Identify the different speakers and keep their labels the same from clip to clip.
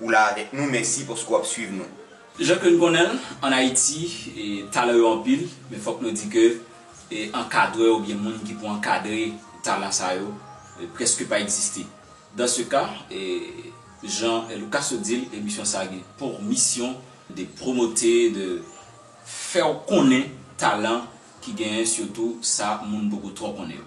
Speaker 1: Ou la avèk nou, mèsi paske w ap swiv nou. Jan ke n konnen
Speaker 2: l, an Ayiti, talan yo anpil, men fòk nou di ke ankadrè oubyen moun ki pou ankadre talan sa yo prèske pa egziste. Dans ce cas, jan Lucas sot di l, emisyon sa gen pour mission de promoter, de fè w konnen talan ki genyen, sitou sa moun poko twò konnen yo.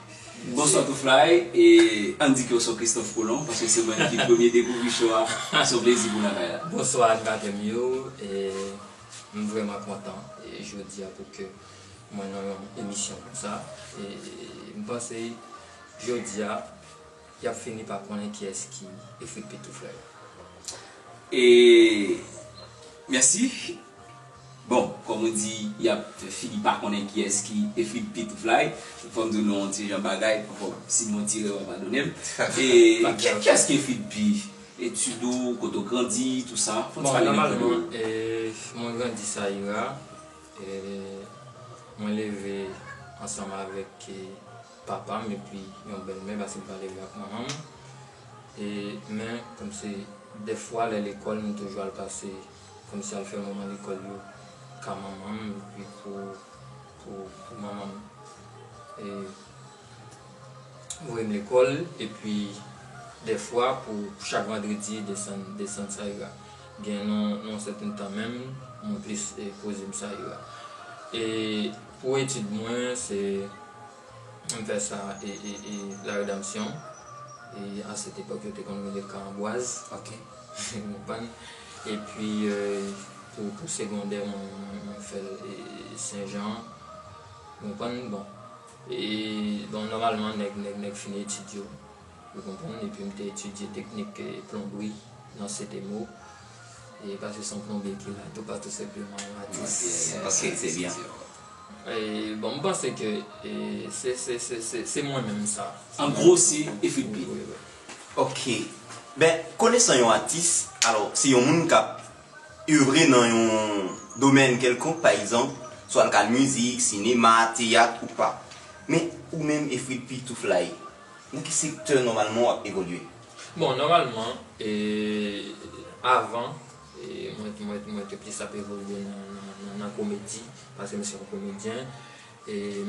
Speaker 1: Bonswa
Speaker 2: Touflay e ann di ke w se Christophe Colomb paske se mwen ki premye dekouvri show a se yon plezi pou lakay la. Bonswa animatè m yo
Speaker 3: e m vrèman kontan jodia pou ke mwen nan yon emisyon konsa e m panse jodia Yap fini pa konnen kiyes ki efrik pitou frè yo. E
Speaker 2: merci bon kom ou di yap fini pa konnen kiyes ki efrik pitou fly fom di w nou yon ti jan bagay bon si mwen ti rewa padonem e kiyes ki efrik dpi etid ou kote ou grandi tou sa fon ti pale nou de
Speaker 3: ou. Mwen grandi sayira e mwen leve ansanm avek. papa m epi yon bèlmè pase m pale li ak manman m e men kòm se dèfwa lè lekòl m toujou al pase kòm se al fè moman lekòl yo ka manman m epi pou pou manman m e voye m lekòl epi dèfwa pou chak vandredi desann desann sa ira gen yon sèten tan menm mwen plis poze m sa ira e. Pou etid mwen se m fè sa e e la redanmsyon e a sèt epòk yo te konn rele kan anbwaz ok ou
Speaker 2: konprann
Speaker 3: epi pou pou segondè mwen mwen fè l e sen jan ou konprann bon e bon nòmalman nèg nèg nèg fini etid yo. Mwen konprann epi m te etidye teknik plonbri nan CDMO. E pa se son plonbye ki la toupatou senpleman
Speaker 1: yon atis. Ok, se byen.
Speaker 3: Bon, m panse ke se mwen menm sa. An gwo se
Speaker 2: Efrik Pit. Wi, wi.
Speaker 3: Ok.
Speaker 1: Ben, konesan yon atis, alò, se yon moun k ap evre nan yon domèn kèlkonk, pa egzanp, swa l ka mizik, sinema, teyat ou pa. Men, ou menm Efrik Pitouflaye. Nan ki sektè nòmalman w ap evolye? Bon, nòmalman,
Speaker 3: avan, mwen te plis ap evolye nan komedi, paske m se yon komedyen.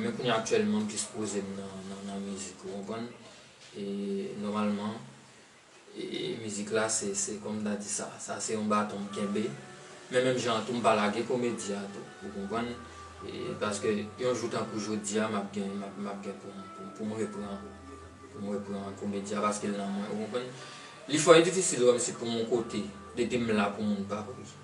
Speaker 3: Men kounye a aktyèlman, m plis poze m nan mizik, ou konprann? E nòmalman. Mizik la se kòm m ta di sa, sa se yon baton m kenbe, men menm jan an tou m pa lage komedi a tou ou konprann, paske yon jou tankou jodi a m ap gen m ap gen pou m repran pou m repran komedi a paske l nan mwen ou konprann. Li fò e difisil wè m si pou yon kote depi m la pou moun pa ri.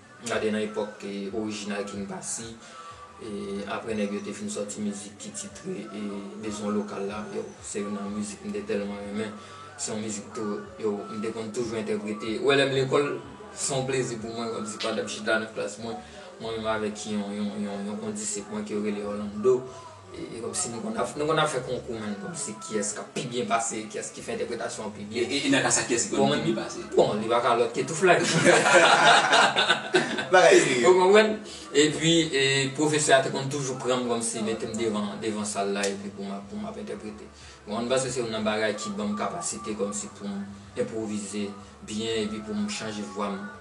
Speaker 3: Gade nan epòk orijinal King Passy, aprè nèg yo te fin sòti mizik ki titre Bezwen Lokal la, yow, se youn nan mizik m te tèlman renmen. Se yon mizik tou, yow, m te konn toujou entèprete. Ou wè lè m lekòl, se yon plezi pou mwen, kòm si pandan m chita nan klas mwen, mwen menm avèk yon kondisip mwen ke yo rele Orlando, E komsi nou konn ap nou konn ap fè konkou man komsi kiyès kap pi byen pase kiyès ki fè entèpretasyon an pi byen. E nan ka sa kiyès ki konn pi
Speaker 2: byen pase? Bon li pa ka lòt ke
Speaker 3: Touflay nan.
Speaker 1: Bagay serye. Ou konprann?
Speaker 3: Epi e pwofesè a te konn toujou pran m komsi mete m devan devan sal la epi pou m ap pou m ap entèprete. Bon m panse se youn nan bagay ki ban m kapasite komsi pou m enpwovize byen epi pou m chanje vwa m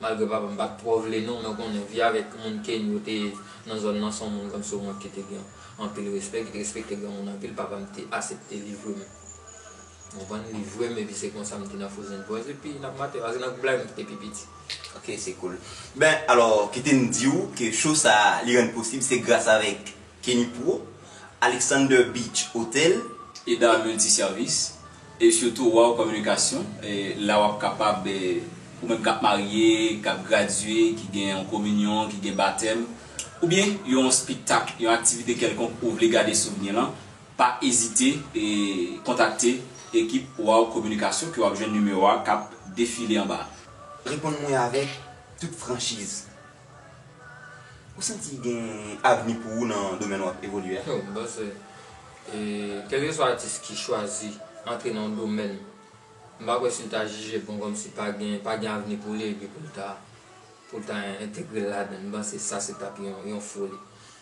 Speaker 3: Malgre papa m pat twò vle non mwen konnen vi avèk moun Keny yo te nan zòn nan son moun kòm si yon moun ki te gen anpil respè ki te respekte granmoun anpil papa m te asepte livre m ou konprann livre m epi se konsa m te nan Frozen Boys epi nan Mateo a se nan gwoup la yo m ki te pi piti. Ok se cool.
Speaker 1: Ben alò kite m di ou ke show sa li rann posib se gras avèk Kenny Pro, Alexander Beach Hotel, Eda Multi
Speaker 2: Service, E surtout waw kominikasyon la wap kapab ou menm kap marye, kap gradye, ki gen yon kominyon, ki gen batèm oubyen yon spiktak, yon aktivite kèlkonk ou vle gade souvni lan pa ezite kontakte ekip waw kominikasyon ke wap jwenn nimewo a kap defile anba a. Reponn mwen avèk
Speaker 1: tout franchiz. Ou santi gen avni pou ou nan domèn wap evolye a? Mwen panse
Speaker 3: kèlkeswa atis ki chwazi antre nan yon domèn, m pa kwè si l ta jije bon kòmsi pa gen pa gen avni pou li epi pou l ta pou l ta entegre l ladan l. M panse sa se t ap yon foli.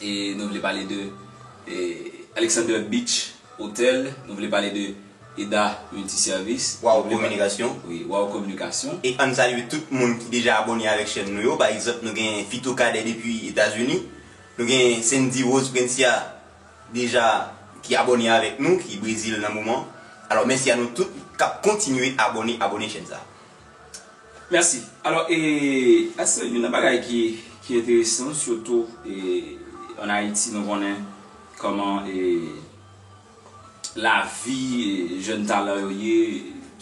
Speaker 2: E nou vle pale de Alexander Beach Hotel, nou vle pale de Eda Multiservice, Waw Kominikasyon,
Speaker 1: wi Waw Kominikasyon.
Speaker 2: E ann salye tout
Speaker 1: moun ki deja abone avèk chèn nou yo, pa egzanp nou gen Fito Cadet depi Etazini, nou gen Sendy Rose Prencia deja ki abone avèk nou ki Brezil nan moman. Alò mèsi a nou tout kap kontinye abone abone chèn sa.
Speaker 2: Merci. Alò e a se youn nan bagay ki ki enteresan sitou e an Ayiti nou konnen kòman e lavi jèn talan yo ye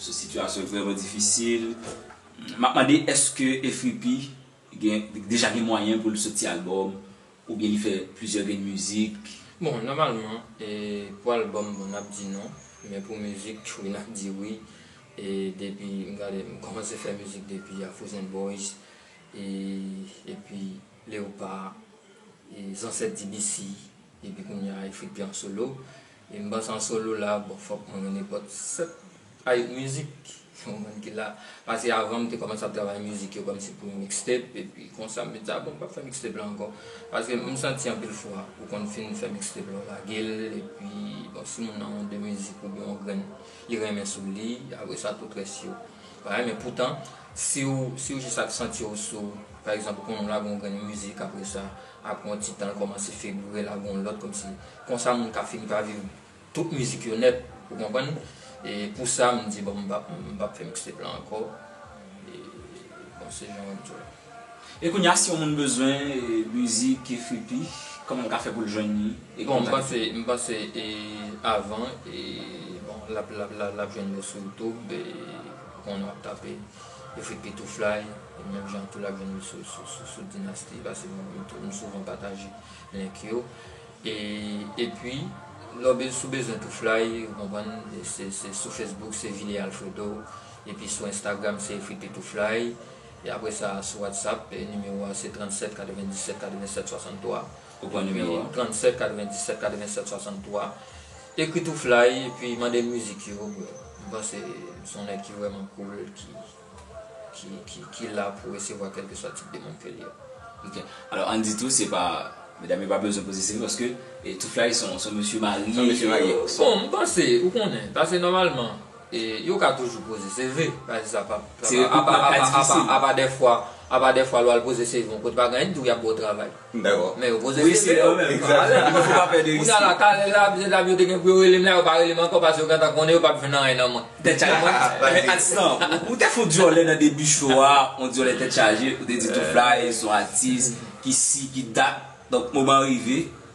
Speaker 2: se sitiyasyon vrèman difisil. Map mande eske efripi gen deja gen mwayen pou l soti albòm Oubyen li fè plizyè grenn mizik. Bon nòmalman
Speaker 3: pou album bon nap di non men pou mizik tjou nap di wi e depi m gade m kòmanse fè mizik depi Afrozen Boys e epi Leopard e Zansèt DBC epi kounya Efrik P an solo Ui m pase an solo la bon fòk mwen yon nèpòt 7 a 8 mizik pou moun ki la pase avan m te kòmanse ap travay mizik yo kòmsi pou yon mixtape epi konsa m vin di a bon m pap fè mixtape la ankò paske m santi anpil fwa ou konn fin fè mixtape la w lage l epi bon si moun nan yon 2 mizik oubyen yon grenn li renmen sou li apre sa tout rès yo pa renmen poutan si w jis ap santi w sou pa egzanp ou konnen w lage yon grenn mizik apre sa Apre yon ti tan l kòmanse febure la gon lòt kòmsi. Konsa moun ka fini pa viv tout mizik yo nèt ou konprann e pou sa m di bon m pap m pap fè mixtape la ankò e bon se jan an djòl. E kounye a si yon moun
Speaker 2: bezwen mizik Frippy kòman l ka fè pou l jwenn li e Bon m kontak panse m
Speaker 3: panse e avan e bon lap lap lap jwenn yo sou youtube e ou konn wap tape. Yo fèt pitouflay, e menm jan tou lap jwenn yo sou Dynasty pase m souvan pataje link yo. E epi lè w si w bezwen tou flay ou konprann se sou Facebook se Villier Alfredo epi sou Instagram se Efrit Pitouflay e apresa sou WhatsApp nimewo a se 37 97 87 63.
Speaker 2: Ou pran nimewo
Speaker 3: a. 37 97 87 63 Ekri tou fly epi mandel mizik yo bro M panse m son nèg ki vrèman cool ki ki la pou resevwa kèlkeswa tip demand ke li a. Ok alò
Speaker 2: ann di tou se pa medam yo pa bezwen poze seri paske tou fly son mesye marye. Bon
Speaker 1: m panse
Speaker 3: ou konnen pase nòmalman. Yo ka toujou poze CV. Apa dèfwa, apa dèfwa lè w al poze CV yon kote pa gen anyen ki di w y ap ba w travay. Dakò. Men yo poze CV yo.
Speaker 2: Kounya la kale la se
Speaker 3: la yo te gen pou yo rele m la yo pa rele m ankò paske yo gentan konnen yo pap jwenn anyen nan mwen. Tèt chaje mwen
Speaker 2: men atis lan ou te fè yon dyòlè nan debi show a yon dyòlè tèt chaje ou te di Two-Fly son atis ki si ki dat donk moman an rive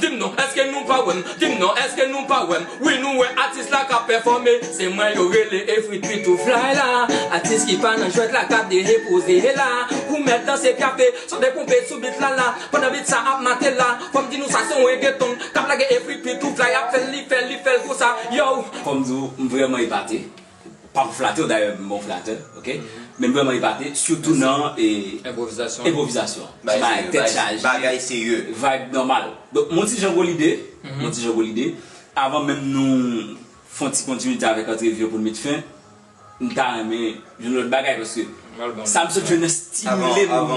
Speaker 3: Dim non eske nou pa wèm Dim non eske nou pa wèm Wi nou wè atis la kap pèfòme Se mwen yo rele Efrit pi tou fly la Atis ki pa nan jwèt la ka derepoze la Ou mèt danse pyafe Sonde konpe sou bit la la Pandan bit sa ap mate la Fòm di nou sa son regeton Kap lage Efrit pi tou fly ap fèl li fèl li fèl konsa Yow Fòm di w m vrèman
Speaker 2: epate. Pa pou flate w dayè m bon flatè ok men m vrèman epate sitou nan enpwovizasyon se bagay tèt chaje
Speaker 1: vibe nòmal
Speaker 2: donk m yon ti jan gwo lide m yon ti jan gwo lide avan menm nou fè yon ti kontinite avèk antrevi an pou n met fen m ta renmen jwenn lòt bagay paske sa m sot jwenn nan stimile m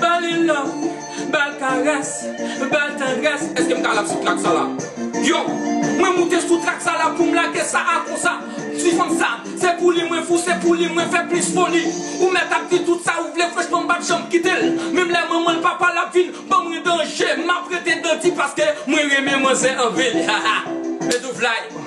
Speaker 3: Ba li love, ba l karès, ba l tandrès. Eske m ka rap sou track sa la? Yo! Mwen moute sou track sa la pou m lage sa a konsa Ti fanm sa, se pou li mwen fou, se pou li mwen fè plis foli Ou mèt ap di tout sa ou vle, franchman m pa t janm kite l Menm lè manman l, papa l ap vin ban mwen danje M ap rete dandi paske mwen renmen manzè anpil Haha! Medoufly!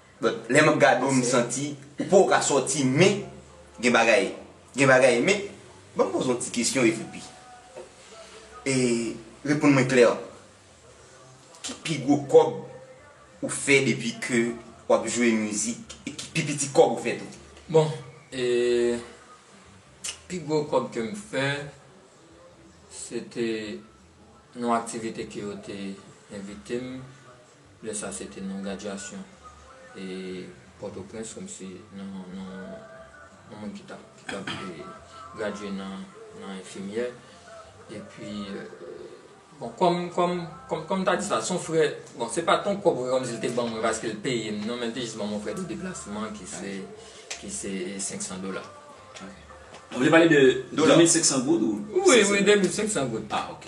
Speaker 1: Bon lè map gade w m santi ou poko ka sòti men gen bagay gen bagay men ban m poze w yon ti kesyon epi e reponn mwen klè ki pi gwo kòb ou fè depi ke wap jwe mizik e ki pi piti kòb ou fè tou? Bon e
Speaker 3: pi gwo kòb ke m fè se te yon aktivite ke yo te envite m. Lè sa se te nan gradyasyon e Pòtoprens kòm si nan yon moun ki tap gradye nan enfimyè. E pi bon kòm kòm m ta di sa son frè bon se pa ton kòb kòm si l te ban mwen paske l peye m non men l te jis ban mwen frè de deplasman ki se ki se 500 dola.
Speaker 2: Ou vle pale de 2500 goud ou? Wi wi 2500
Speaker 3: goud. Ah ok.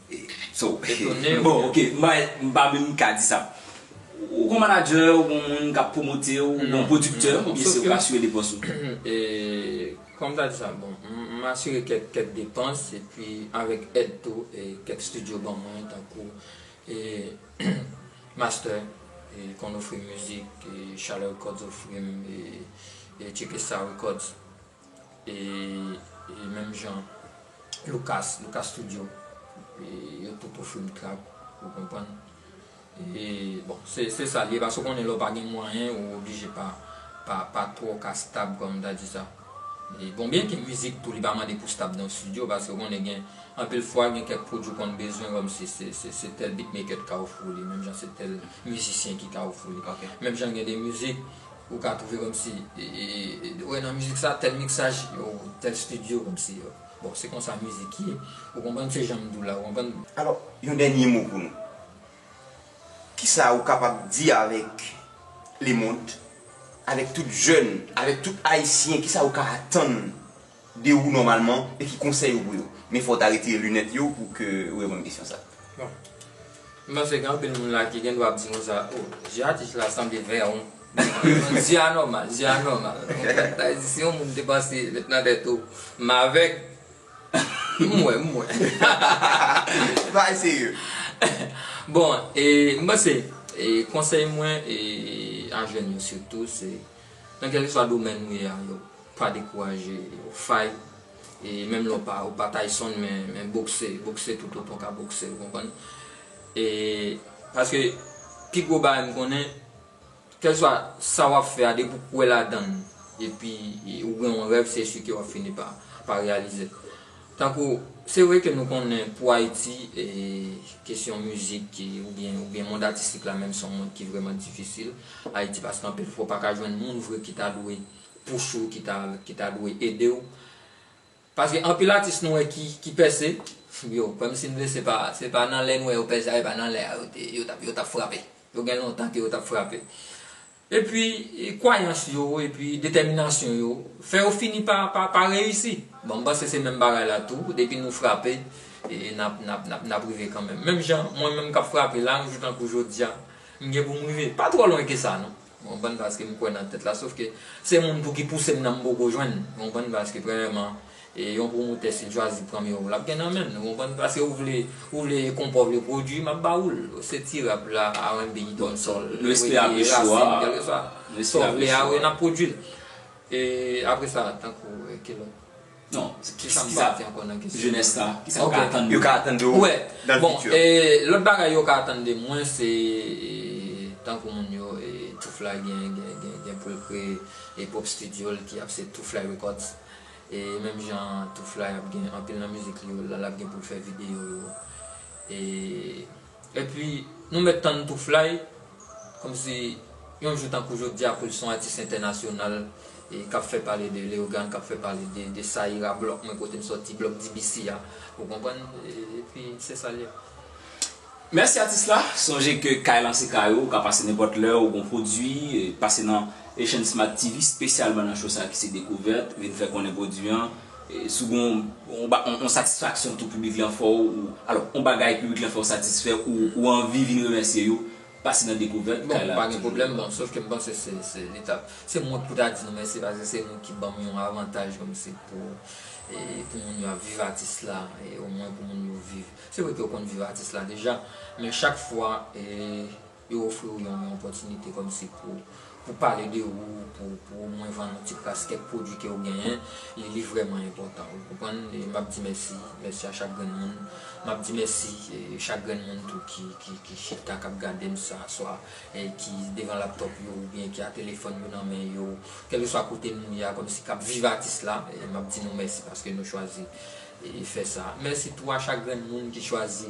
Speaker 2: It's ok. Bon ok, m pa menm ka di sa. Ou gon manadjè, ou gon moun kap pwomote w, ou gon pwodiktè, konbyen se ou k asire depans ou?
Speaker 3: Kòman m ta di sa? Bon, m asire kèk depans epi avèk èd tou kèk studio ban mwen tankou Master konn ofri m mizik, Chalè Records ofri m, Chekesaw Records. e menm jan Lucas, Lucas studio yo tout ofri m trap ou konprann e bon se sa li ye paske ou konnen lè ou pa gen mwayen ou oblije pa pa twò ka stab kòm m ta di sa e bon byen ke mizik tou li pa mande pou stab nan studio paske ou konnen gen anpil fwa gen kèk pwodui ou konn bezwen kòm si se tèl beatmaker ki ka ofri w li menm jan se tèl mizisyen ki ka ofri w li menm jan gen de mizik Ou ka trouve komsi wè nan mizik sa tel miksaj yo tel studio komsi yo bon se konsa mizik ye ou konprann se janm diw la ou konprann. Alò yon
Speaker 1: dènye mo pou nou. Kisa ou kapab di avèk lemond, avèk tout jèn, avèk tout ayisyen kisa ou ka atann de ou nòmalman e ki konsèy ou pou yo? Men fò w ta retire linèt yo pou ke ou reponn kesyon sa.
Speaker 3: Bon. M panse gen anpil moun la ki gen dwa ap di konsa, oh, zye atis la sanble vè an. Non, zye a nòmal, zye a nòmal. Sa vle di si yon moun te panse met nan tèt ou m avèg, m wè, m wè.
Speaker 1: Bagay serye. Bon,
Speaker 3: e m panse e konsèy mwen e a jèn yo sitou se nan kèlkeswa domèn nou ye a yo Pa dekouraje fight e menm lè ou pa Tyson men bokse, bokse tout otan w ka bokse ou konprann e paske pi gwo bagay m konnen kèlswa sa wap fè a depi ou kwè ladann epi ou gen yon rèv se si ke wap fini pa reyalize l tankou se vre ke nou konnen pou Ayiti e kesyon mizik ki oubyen mond atistik la menm son mond ki vrèman difisil Ayiti paske anpil fwa ou pa ka jwenn moun vre ki ta dwe push ou ki ta ki ta dwe edew paske anpil atis nou wè ki ki pèse yo kòm si vle se pa se pa nan lè nou wè yo pèse a e pa nan lè a yo te yo tap yo tap frape yo gen lontan ke yo tap frape epi kwayans yo epi detèminasyon yo fè yo fini pa pa pa reyisi bon m panse se menm bagay la tou depi nou frape e nap nap nap nap rive kanmenm menm jan mwen menm kap frape la yon jou tankou jodia m gen pou m rive pa twò lwen ke sa non. Ou konprann paske m kwè nan tèt la sof ke se moun tou ki pouse m nan m poko jwenn ou konprann paske premyèman e yon pwomotè si l chwazi pran m yon rap gen nan menm ou konprann paske ou vle ou vle konpa ou vle pwodui m ap ba ou l se ti rap la RNB donsòl rege rasin kèlkeswa
Speaker 2: sa w vle
Speaker 3: a wi n ap pwodui l e apresa tankou ki lòt. Non,
Speaker 2: kisa m ka fè
Speaker 3: ankò nan kesyon jenès la? Kisa yo ka
Speaker 2: atann de ou? Yo ka atann de ou nan le
Speaker 1: futur? Bon,
Speaker 3: lòt
Speaker 1: bagay yo
Speaker 3: ka atann de mwen se tankou moun yo Tuflay gen pou l kreye pwòp studio l ki ap se Tuflay Records e menm jan Tuflay ap gen anpil nan mizik li yo l ap gen pou l fè videyo yo e Epi nou mèt tann Toofly kòmsi yon jou tankou jodia poul son atis entènasyonal e kap fè pale de Leogane kap fè pale de Saïra blòk mwen kotem sòti blòk DBC a ou konprann epi se sal ye. Mèsi
Speaker 2: atis la, sonje ke kay lan se kay ou, ou ka pase nenpòt lè, ou gon pwodwi, pase nan Haitian Smart TV spesyalman nan show sa ki se dekouvèt, vin fè konnen pwodwi an, Si w gen yon satisfaksyon tou piblik lan fè w, alò yon bagay piblik lan fè w satisfè ou, ou anvi vin remèsye yo, pase nan Dekouvèt kay la. Bon, pa gen pwoblèm non.
Speaker 3: Sof ke m panse se, se li ta, se mwen pou ta di nou mèsi paske se nou ki ban m yon avantaj kòmsi pou, e pou moun yo ap viv atis la, e omwen pou moun yo viv. Se vre ke yo konn viv atis la deja, men chak fwa e. Yo ofri ou yon opòtinite kòm si pou pou pale de ou, pou pou omwen vann yon ti kras kèk pwodui ke ou genyen, li li vrèman enpòtan. Ou konprann? E m'ap di mèsi, mèsi a chak grenn moun. M'ap di mèsi chak grenn moun tou ki ki ki chita k'ap gade'm sa swa e ki devan laptòp yo oubyen ki a telefòn yo nan men yo, kèlkeswa kote nou ye a kòm si k'ap viv atis la, m'ap di nou mèsi paske nou chwazi fè sa. Mèsi tou a chak grenn moun ki chwazi.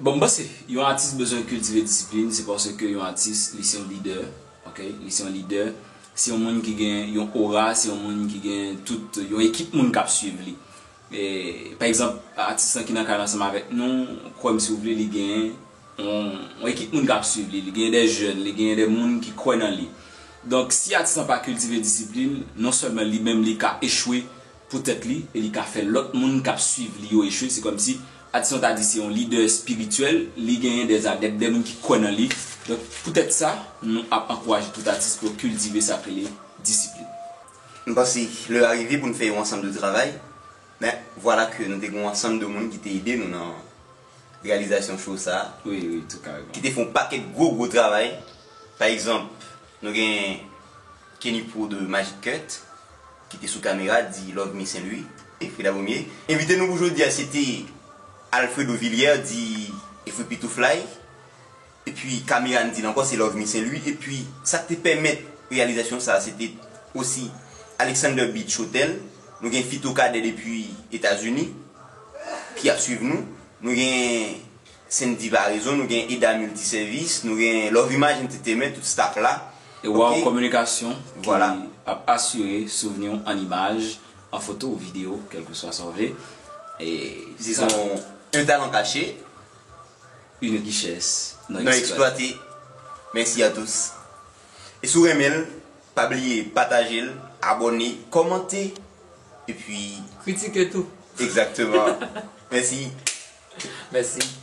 Speaker 1: Bon
Speaker 2: m panse yon atis bezwen kiltive disiplin se paske yon atis li se yon lidè ok li se yon lidè se yon moun ki gen yon ora se yon moun ki gen tout yon ekip moun kap swiv li pa egzanp atis lan ki nan kay la ansanm avèk nou kwè m si w vle li gen yon ekip moun kap swiv li li gen de jèn li gen de moun ki kwè nan li donk si atis lan pa kiltive disiplin non sèlman li menm li ka echwe pou tèt li e li ka fè lòt moun kap swiv li yo echwe se kòmsi atis lan ta di se yon lidè espirityèl li genyen dè adèp dè moun ki kwè nan li donk pou tèt sa nou ap ankouraje tout atis pou yo kiltive sak rele disiplin. M panse
Speaker 1: lè a rive pou n fè yon ansanm de travay men vwala ke nou te gen yon ansanm de moun ki te ede nou nan reyalizasyon show sa ki
Speaker 2: te fè yon pakèt gwo
Speaker 1: gwo travay pa egzanp nou gen Kenny Pro de Magic Cut ki te sou kamera di Love Me Saint Louis e Freda Bomie envite nou pou jodi a se te Alfredo Villière di Efripi Two Fly. Epi Camera n di l ankò se Lovemy Saint Louis epi sa k te pèmèt reyalizasyon sa se te osi Alexander Beach Hotel, nou gen Fito Cadet depi Etazini ki ap swiv nou, nou gen Sendy Varaison, nou gen Eda Multi Service, nou gen Love Image Entertainment, tout staff la. E Wow
Speaker 2: Communication ki ap
Speaker 1: asire
Speaker 2: souvni w an imaj, an foto ou videyo kèlkeswa sa w vle. Dizon,
Speaker 1: un talent caché.
Speaker 2: Une richesse non exploitée.
Speaker 1: Merci à tous. E si w renmen l, pa bliye pataje l, abone, kòmante e pi. Kritike tou.
Speaker 3: Exactement.
Speaker 1: Mèsi.
Speaker 3: Mèsi.